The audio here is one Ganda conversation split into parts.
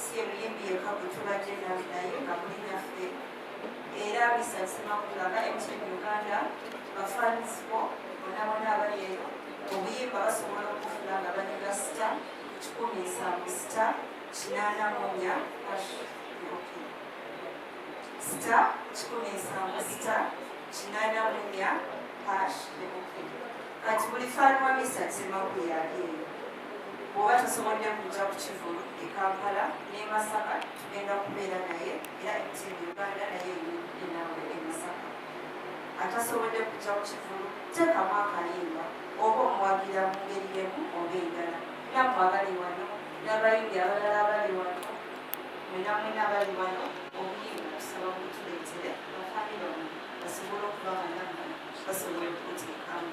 Si ye muyimbi yekka gwe tubadde nawe naye nga muli naffe era Mr Ssemakula nga MTN Uganda bafans bo bonna bonna abali eyo obuyimba basobola okufuna nga banyega sita kikumi nsanvu sita kinaana munya sita kikumi nsanvu sita kinaana munya hash kati buli faanwa Mr Ssemakula yali eyo Bw'oba tasobodde kujja ku kivvulu e Kampala n'e Masaka tugenda kubeera naye era Team Uganda nayo eri naawe e Masaka. Atasobodde kujja ku kivvulu teekamu akayimba oba omuwagira mu ngeri y'emu oba endala. Nammwe abali wano n'abayimbi abalala abali wano mwena mwena abali wano obuyimba tusaba mubutuleetere ba famire bammwe basobole okuba nga nammwe basobola okubuteekamu.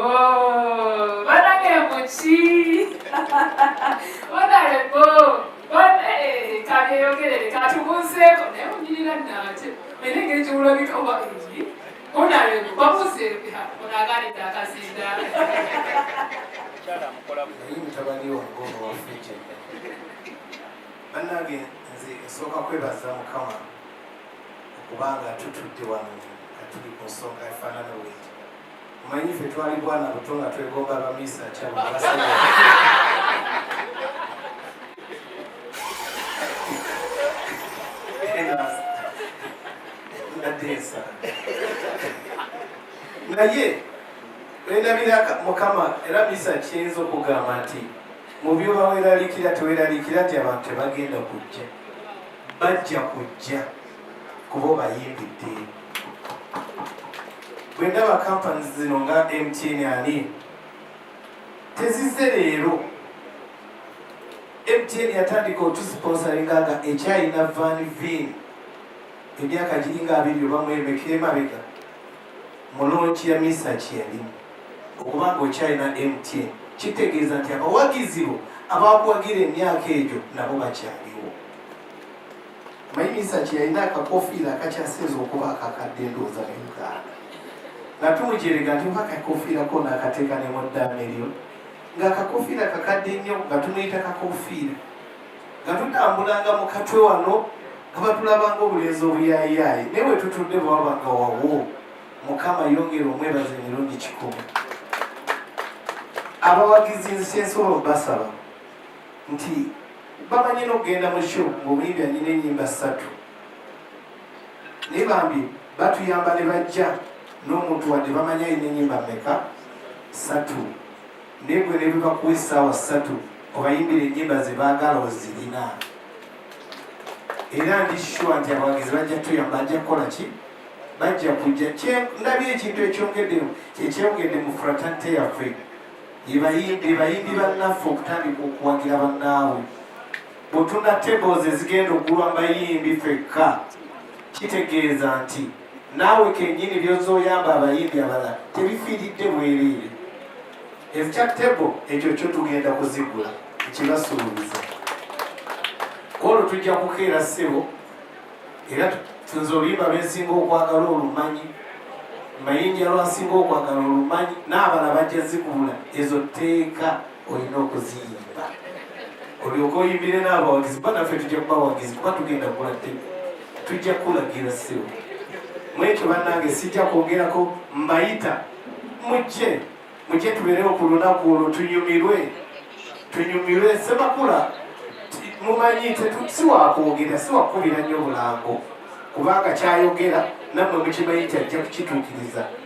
Honorable, banange muki? Honorable, bane kageyogerere katubuzeeko naye munyirira nate naye engeri gyewulabika oba eri honorable babuze onaganidde akazinda naye mutabani wange ono waffe banange nze esooka kwebaza mukama okuba nga tutudde wano nga tuli ku nsonga efaanana bweti omanyi ffe twali bwana buto nga twegomba abamiisa kyabwe abasajja nateesa naye endabira mukama era misa kiyinza okugamba nti mu byo baweralikira teweralikira nti abantu tebagenda kujja bajja kujja kuba obayimbidde bwe ndaba kampani zino nga mtn ani tezize leero mtn yatandika otusponsoringa nga ekyayina van vin emyaka giringa abiri obamu emeka emabega mu loogi ya Mister Kyeyalimu. Okuba ng'okyalina MTN kitegeeza nti abawagizi bo abaakuwagira emyaka egyo nabo bakyaliwo. Omanyi Mister Kyeyalina akakofiira akakyasinze okuba akakadde endowooza mu Uganda. Nga tumujerega nti oba akakofiira kona akateeka ne mu ddaame lyo. Ng'akakofiira kakadde nnyo nga tumuyita kakofiira. nga tutambulanga mu katwe wano nga batulabanga obulenzi obuyayiyaayi naye bwe tutudde bwewabanga wawo mukama yongera omwebaza emirundi kikumi abawagizi nzikyensobola okubasaba nti bamanyi nokugenda mu sho ngaomuyimbi anyina enyimba ssatu naye bambi batuyamba ne bajja n'omuntu wadde bamanyi alina enyimba meka ssatu naye gwe netuka kuwa essaawa ssatu obayimbira ennyimba ze baagala ozirina era ndi sure nti abawagizi bajja tuyamba ajja kukola ki bajja kujja ndabye ekintu ekyongedde ekyongedde mu fratante yaffe yebayimbi bayimbi bannaffe okutandika okuwagira bannaabwe bwetuna tables ezigenda okugulwa mbayimbi fekka kitegeeza nti naawe kenyini byozza oyamba abayimbi abalala tebifiiridde bwereere ekya tebo ekyo kyo tugenda kuzigula ekibasuubiza kwolwo tujja kukeera ssebo era tuze oluyimba lwensinga okwagala olumanyi mayinja lwasinga okwagala olumanyi n'abala bajja zigula ezo tteeka olina okuziyimba olyoka oyimbire n'abawagizi kuba naffe tujja kubawagizi kuba tugenda kula tebe tujja kulagira siwo mwekyo bannange sijja kwogerako mbayita mujje mujje tubeerewo ku lunaku olwo tunyumirwe tunyumirwe semakula mumanyi siwakwogera siwakubira nnyo bulango kubanga kyayogera nammwe mukimanyi nti ajja kukitukiriza